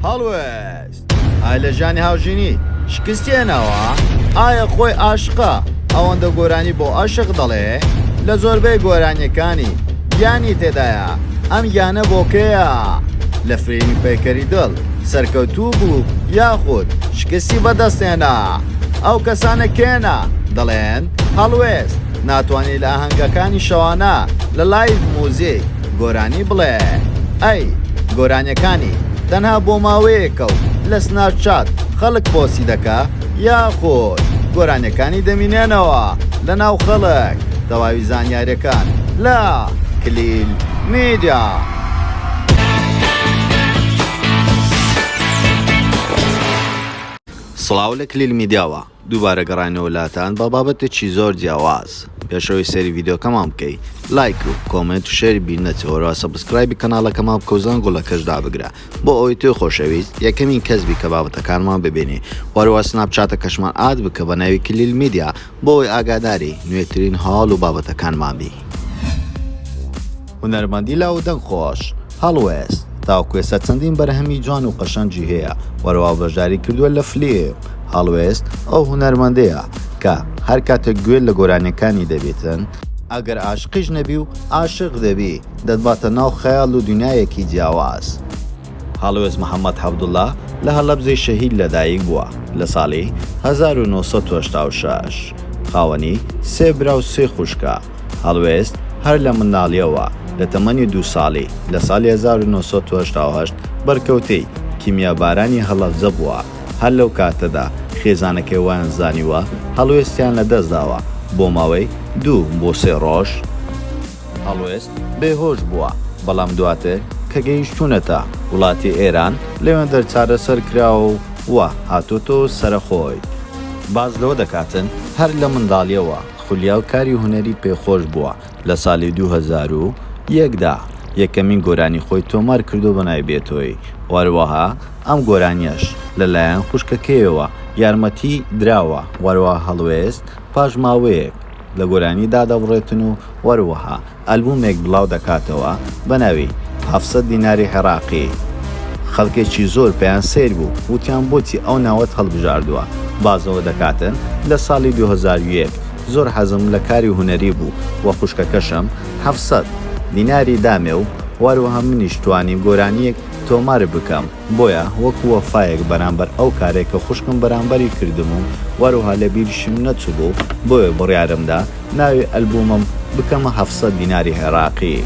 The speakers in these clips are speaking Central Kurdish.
هەڵوێست ئای لە ژانی هاوژینی شکستی هێناوە ئایا خۆی ئاشقا ئەوەندە گۆرانی بۆ ئەشق دەڵێ لە زۆربەی گۆرانیەکانی گیانی تێدایە ئەم گیانە بۆکەیە لە فرینی پەیکەری دڵ سەرکەوتوو بوو یاخود شکستی بەدەستێنا ئەو کەسانە کێنە دەڵێن هەڵوێست ناتوانی لە ئاهەنگەکانی شەوانە لە لایڤ موزیک گۆرانی بڵێ ئەی گۆرانیەکانی تەنها بۆ ماوەیەکە و لە سناپ چات خەڵک پۆسی دەکا یاخۆد گۆرانیەکانی دەمینێنەوە لە ناو خەڵک تەواوی زانیارەکان لە کلیل میدیا. سڵاو لە کلیل میدیاوە. دووبارە گەڕاینەوە لاتان بە بابەتێکی زۆر جیاواز پێشەوەی سەیری ڤیدیۆکەمان بکەی لایک و کۆمێنت و شێری بیر نەچە وەرەوە سەبسکرایبی کەناڵەکەمان بکە و زەنگوڵەکەش دابگرە بۆ ئەوەی تۆی خۆشەویست یەکەمین کەس بی کە بابەتەکانمان ببینی وەرەوە سناپچاتەکەشمان ئاد بکە بە ناوی کلیل میدیا بۆ ئەوەی ئاگاداری نوێترین هەواڵ و بابەتەکانمان بی. هونەرمەندی لاو و دەنگ خۆش. هەڵوێست، تاوکوێسە چەندین بەرهەمی جوان و قەشەنگی هەیە و رەوا بەشداری کردووە لە فلیم. هەڵوێست ئەو هونەرمەندەیە کە هەر کاتێک گوێت لە گۆرانیەکانی دەبیتن، ئەگەر عاشقیش نەبی و عاشق دەبی دەتباتە ناو خەیاڵ و دونیایەکی جیاواز. هەڵوێست محەمەد حەبدوڵا لە هەڵەبجەی شەهید لە دایک بووە لە ساڵی هەزار و نۆ سەد و هەشتا و شەش. خاوەنی سێ برا و سێ خوشکە. هەڵوێست، هەر لە منداڵییەوە، لە تەمەنی دوو ساڵی، لە ساڵی هەزار و نۆ سەد و هەشتا و هەشت، بەرکەوتەی، کیمیابارانی هەڵەبجە، بووە، هەر لەو کاتەدا، خێزانەکەی وایان زانیوە، هەڵوێستیان لە دەست داوە، بۆ ماوەی، دوو بۆ سێ ڕۆژ، هەڵوێست، بێ هۆش بووە، بەڵام دواتر، کە گەیشتوونەتە، وڵاتی ئێران، لەوێندەر چارەسەر کراوە و وا، هاتۆتەوە سەرەخۆی. باس لەوە دەکاتن، هەر لە منداڵییەوە، خولیاو کاری هونەری پێ خۆش بووە لە سالی دوو هەزار و یەک دا یەکەمین گۆرانی خۆی تۆمار کردووە بە ناوی بێتۆی و هەروەها ئەم گۆرانیەش لە لایەن خوشکەکەیەوە یارمەتی دراوە و هەروەها هەڵوێست پاش ماوەیەک لە گۆرانی دادەبڕێتن و هەروەها ئەلبومێک بڵاو دەکاتەوە بە ناوی، هەفت سەد دیناری عێڕاقی، خەڵکێکی زۆر پێیان سەیر بوو وتیان بۆچی ئەو ناوەت هەڵبژاردووە، بازەوە دەکاتن لە ساڵی دوو هەزار و یەک زۆر حەزم لە کاری هونەری بوو و خوشکەکەشم هەفت سەد دیناری دامێ و وەروەها منیش توانیم گۆرانییەک تۆمار بکەم، بۆیە وەکو وەفایەک بەرامبەر ئەو کارەی کە خوشکم بەرامبەری کردم و وەروها لە بیریشم نەچوبوو بۆیە بڕیارم دا ناوی ئەلبومم بکەمە هەفت سەد دیناری عێراقی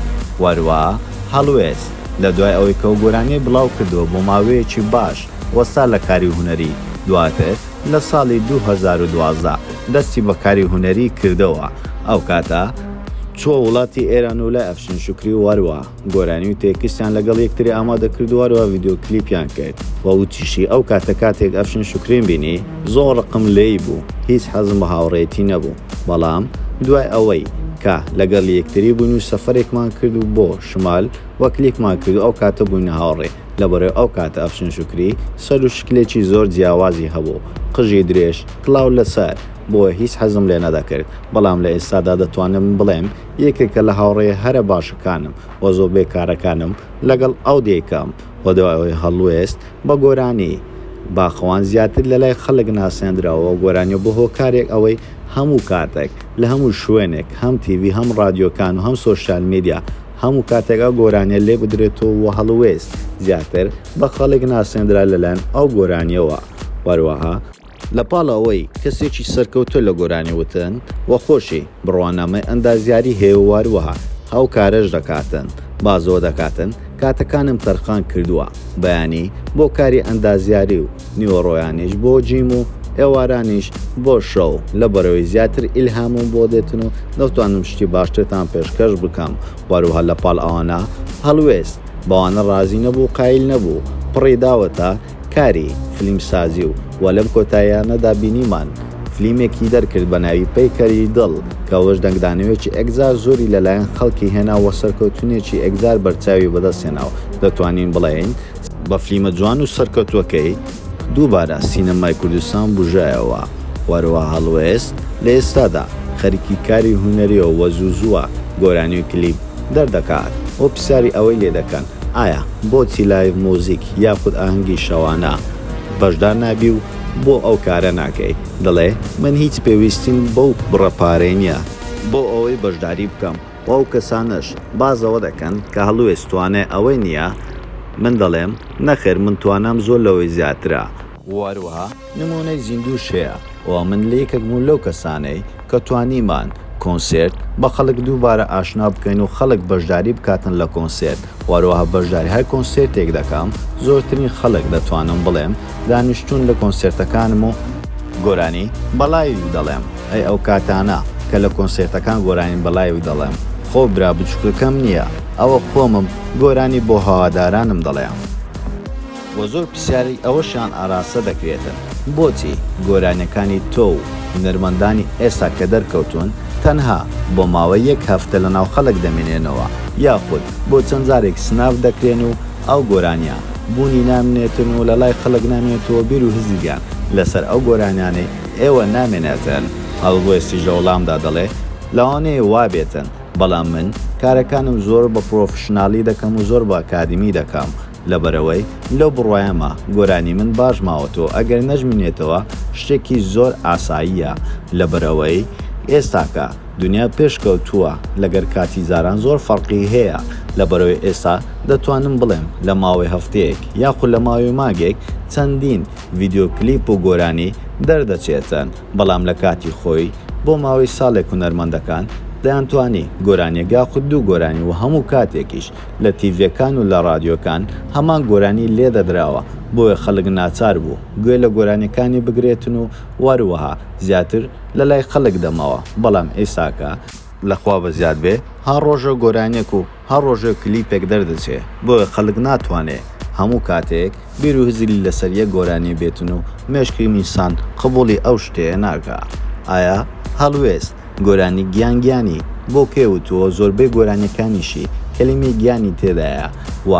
وەروها هەڵوێست لە دوای ئەوەی کە ئەو گۆرانیەی بڵاو کردوە بۆ ماوەیەکی باش وەستا لە کاری هونەری دواتر لە ساڵی دوو هەزار و دوازدە دەستی بە کاری هونەری کردەوە ئەو کاتە چوە وڵاتی ئێران و لای ئەفشین شوکری وەروها. گۆرانی و تێکستیان لەگەڵ یەکتری ئامادە کردو هەروەها ڤیدیۆ کلیپیان کرد و وتیشی، ئەو کاتە کاتێک ئەفشین شوکریم بینی زۆر ڕقم لێی بوو هیچ حەزم بە هاوڕێیەتی نەبوو بەڵام دوای ئەوەی کە لەگەڵ یەکتری بووین و سەفەرێکمان کرد بۆ شمال و کلیپمان کرد ئەو کاتە بووینە هاوڕێ لەبەرەوەی ئەو کاتە ئەفشین شوکری سەر و شکلێکی زۆر جیاوازی هەبوو قژی درێژ کڵاو لەسەر بۆیە هیچ حەزم لێ نەدەکرد بەڵام لە ئێستادا دەتوانم بڵێم یەکێکە لە هاوڕێیە هەرە باشەکانم و زۆر بێ کارەکانم لەگەڵ ئەو دەیکەم و دوای ئەوەی هەڵوێست بە گۆرانی باخەوان زیاتر لە لای خەڵک ناسێندرا و گۆرانیە بوە هۆکارێک ئەوەی هەموو کاتەک لە هەموو شوێنێک هەم تیڤی هەم ڕادیۆکان و هەم سۆشیال میدیا هەموو کاتێک ئەو گۆرانیە لێ بدرێت و و هەڵوێست زیاتر بە خەڵک ناسێندرا لە لایەن ئەو گۆرانیەوە وەروەها لە پاڵ ئەوەی کەسێکی سەرکەوتووە لە گۆرانی وتن و خۆشی، بڕوانامەی ئەندازیاری هەیە و هەروەها ئەو کارەش دەکاتن، بازەوە دەکاتن، کاتەکانم تەرخان کردووە، بەیانی بۆ کاری ئەندازیاری و نیوەڕۆیانیش بۆ جیم و ئێوارانیش بۆ شەو، لەبەرئەوەی زیاتر ئیلهامم بۆ دێتن و دەتوانم شتی باشترتان پێشکەش بکەم و هەروەها لە پاڵ ئەوانە هەڵوێست بەوانە ڕازی نەبوو و قایل نەبوو، پڕی داوەتە کاری فلیم سازی و وە لەم کۆتاییانەدا بینیمان فلیمێکی دەرکرد بە ناوی پەیکەری دڵ کە ئەوەش دەنگدانەوەیەکی ئەگزار زۆری لە لایەن خەڵکی هێنا وە سەرکەوتنێکی ئەگزار بەرچاوی بەدەست هێنا و دەتوانین بڵێین بە فلیمە جوان و سەرکەوتوەکەی دووبارە سینەمای کوردستان بوژایەوە وەروەها هەڵوێست لە ئێستادا خەریکی کاری هونەریە و زوو زووە گۆرانی و کلیپ دەردەکات و پرسیاری ئەوەی لێ دەکەن ئایا بۆچی لایڤ موزیک یاخود ئاهەنگی شەوانە بەشدار نابی و بۆ ئەو کارە ناکەی دەڵێ من هیچ پێویستیم بەو بڕە پارەی نیە بۆ ئەوەی بەشداری بکەم و ئەو کەسانەش باس لەوە دەکەن کە هەڵوێست توانای ئەوەی نیە من دەڵێم نەخێر من توانام زۆر لەوەی زیاترە و هەروەها نمونەی زیندووش هەیە و من لەیەکەکبوون لەو کەسانەی کە توانیمان کۆنسێرت بە خەڵک دووبارە ئاشنا بکەین و خەڵک بەشداری بکاتن لە کۆنسێرت وەروەها بەشداری هەر کۆنسێرتێک دەکەم زۆرترین خەڵک دەتوانم بڵێم دانیشتوون لە کۆنسێرتەکانم و گۆرانی بە لایڤ دەڵێم ئەی ئەو کاتانە کە لە کۆنسێرتەکان گۆرانی بە لایڤ دەڵێم خۆ برا بچوکەکەم نیە ئەوە خۆمم گۆرانی بۆ هەوادارانم دەڵێم. وە زۆر پرسیاری ئەوەشیان ئاراستە دەکرێتن بۆچی گۆرانیەکانی تۆ و هونەرمەندانی ئێستا کە دەرکەوتوون تەنها بۆ ماوەی یەک هەفتە لە ناو خەلک دەمێنێنەوە یاخود بۆ چەند جارێک سناف دەکرێن و ئەو گۆرانیە بوونی نامنێتن و لە لای خەلک نامێنێتن و بیر و هزریان لە سەر ئەو گۆرانیانەی ئێوە نامێنێتن؟ هەلوێستیش لە وڵامدا دەڵێ لەوانەیە وابێتن بەڵام من کارەکانم زۆر بە پرۆفشنالی دەکەم و زۆر بە ئەکادیمی دەکەم. لەبەرئەوەی لەو بڕوایەمە گۆرانی من باش ماوەتۆ ئەگەر نەژمینێتەوە شتێکی زۆر ئاساییە لەبەرئەوەی ئێستاکە دونیا پێشکەوتووە لەگەر کاتی زاران زۆر فەرقی هەیە لەبەرئەوەی ئێستا دەتوانم بڵێم لەماوەی هەفتەیەک یاخو لەماوەی مانگێک چەندین ڤیدیۆ کلیپ و گۆرانی دەردەچێتن بەڵام لەکاتی خۆی بۆ ماوەی ساڵێک هونەرمەندەکان دەیانتوانی گۆرانیەک یاخو دوو گۆرانی وەهەموو کاتێکیش لە تیڤیەکان و لە ڕادیۆکان هەمان گۆرانی لێ دەدراوە بۆیە خەلک ناچار بوو گوێ لە گۆرانیەکانی بگرێتن و وەروەها زیاتر لە لای خەلک دەمەوە بەڵام ئیساکە لە خوا بەزیاد بێ هەر ڕۆژە گۆرانیەک و هەر ڕۆژە کلیپێک دەردەچێ بۆیە خەلک ناتوانێ هەموو کاتێک بیرو هزری لە سەر یەک گۆرانی بێتن و مێشکی ئینسان قبوڵی ئەو شتەیە ناکا ئایا هەڵوێست گۆرانی گیان گیانی بۆ پێ وتووە زۆربەی گۆرانیەکانیشی کەلیمەی گیانی تێدایە و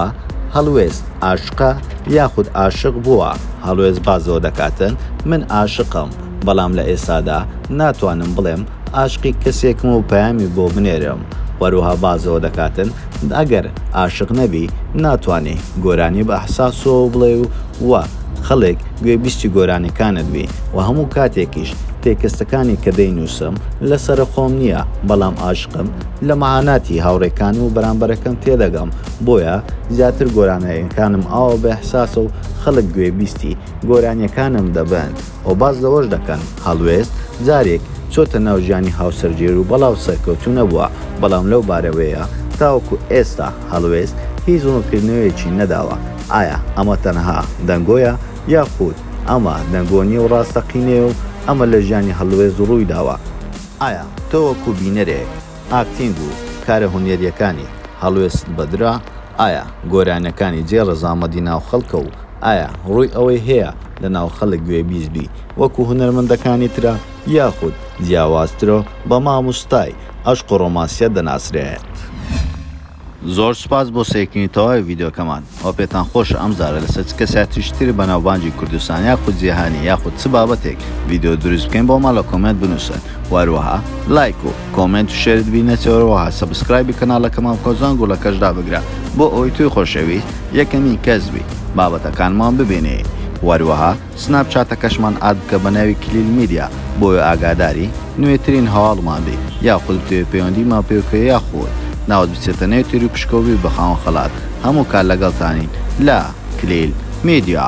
هەڵوێست ئاشقە یاخود ئاشق بووە هەڵوێست بازەوە دەکاتن من ئاشقم بەڵام لە ئێستادا ناتوانم بڵێم ئاشقی کەسێکم و پەیامی بۆ بنێرم وەروەها بازەوە دەکاتن ئەگەر ئاشق نەبی ناتوانی گۆرانی بە ئحساسەوە بڵێ و وا خەڵک گوێ بیستی گۆرانیەکانت بی و هەموو کاتێکیش تێکستەکانی کە دەینوسم لە سەرە خۆم نیە بەڵام ئاشقم لە مەعاناتی هاوڕێکانم و بەرامبەرەکەم تێدەگەم بۆیە زیاتر گۆرانیەکانم ئاوا بە ئحساسە و خەڵک گوێ بیستی گۆرانیەکانم دەبن. و باس لەوەش دەکەن، هەڵوێست، جارێک، چۆتە ناو ژیانی هاوسەرگێر و بەڵاو سەرکەوتوو نەبووە، بەڵام لەو بارەوەیە، تاوەکو ئێستا، هەڵوێست، هیچ ڕوونکردنەوەیەکی نەداوە، ئایا ئەمە تەنها دەنگۆیە، یاخود ئەمە دەنگۆ نییە و ڕاستەقینەیە و ئەمە لە ژیانی هەڵوێست ڕوویداوە؟ ئایا تۆ وەکو بینەرێک، ئاکتینگ و کارە هونەرییەکانی هەڵوێستت بەدرا؟ ئایا گۆرانییەکانی جێ ڕەزامەندی ناو خەڵکە و ئایا ڕووی ئەوەی هەیە، لەناو خەلک گوێبیست بی وەکو هونەرمەندەکانی ترا یاخود جیاوازترو بە ماموستای ئەشق و رۆماسیە دەناسرێت. زۆر سوپاس بۆ سەیرکردنی تەواوی ڤیدیۆکەمان ئەوە پێتان خۆشە ئەم جارە لەسەر چ کەسیاتیکی تری بەناوبانگی کوردستان یاخود جیهانی یاخود چ بابەتێک ڤیدیۆ دروست بکەین بۆمان لە کۆمێنت بنوسن و هەروەها لایک و کۆمێنت و شێرت بی نەچێ هەروەها سەبسکرایبی کەناڵەکەمان بکە و زەنگوڵەکەش دابگرە بۆ ئەوەی تۆی خۆشەویست یەکەمین کەس بی بابەتەکانمان ببینی وەروەها سناپ چاتەکەشمان ئاد بکە بەناوی کلیل میدیا بۆوە ئاگاداری نوێترین هەواڵمان بی یاخود بتەوێ پەیوەندیمان پێ بکەی یاخود ناوت بچێتە نێو تێری پشکەو بی بە خاوەن خەڵات هەموو کات لەگەڵتانین لە کلیل میدیا.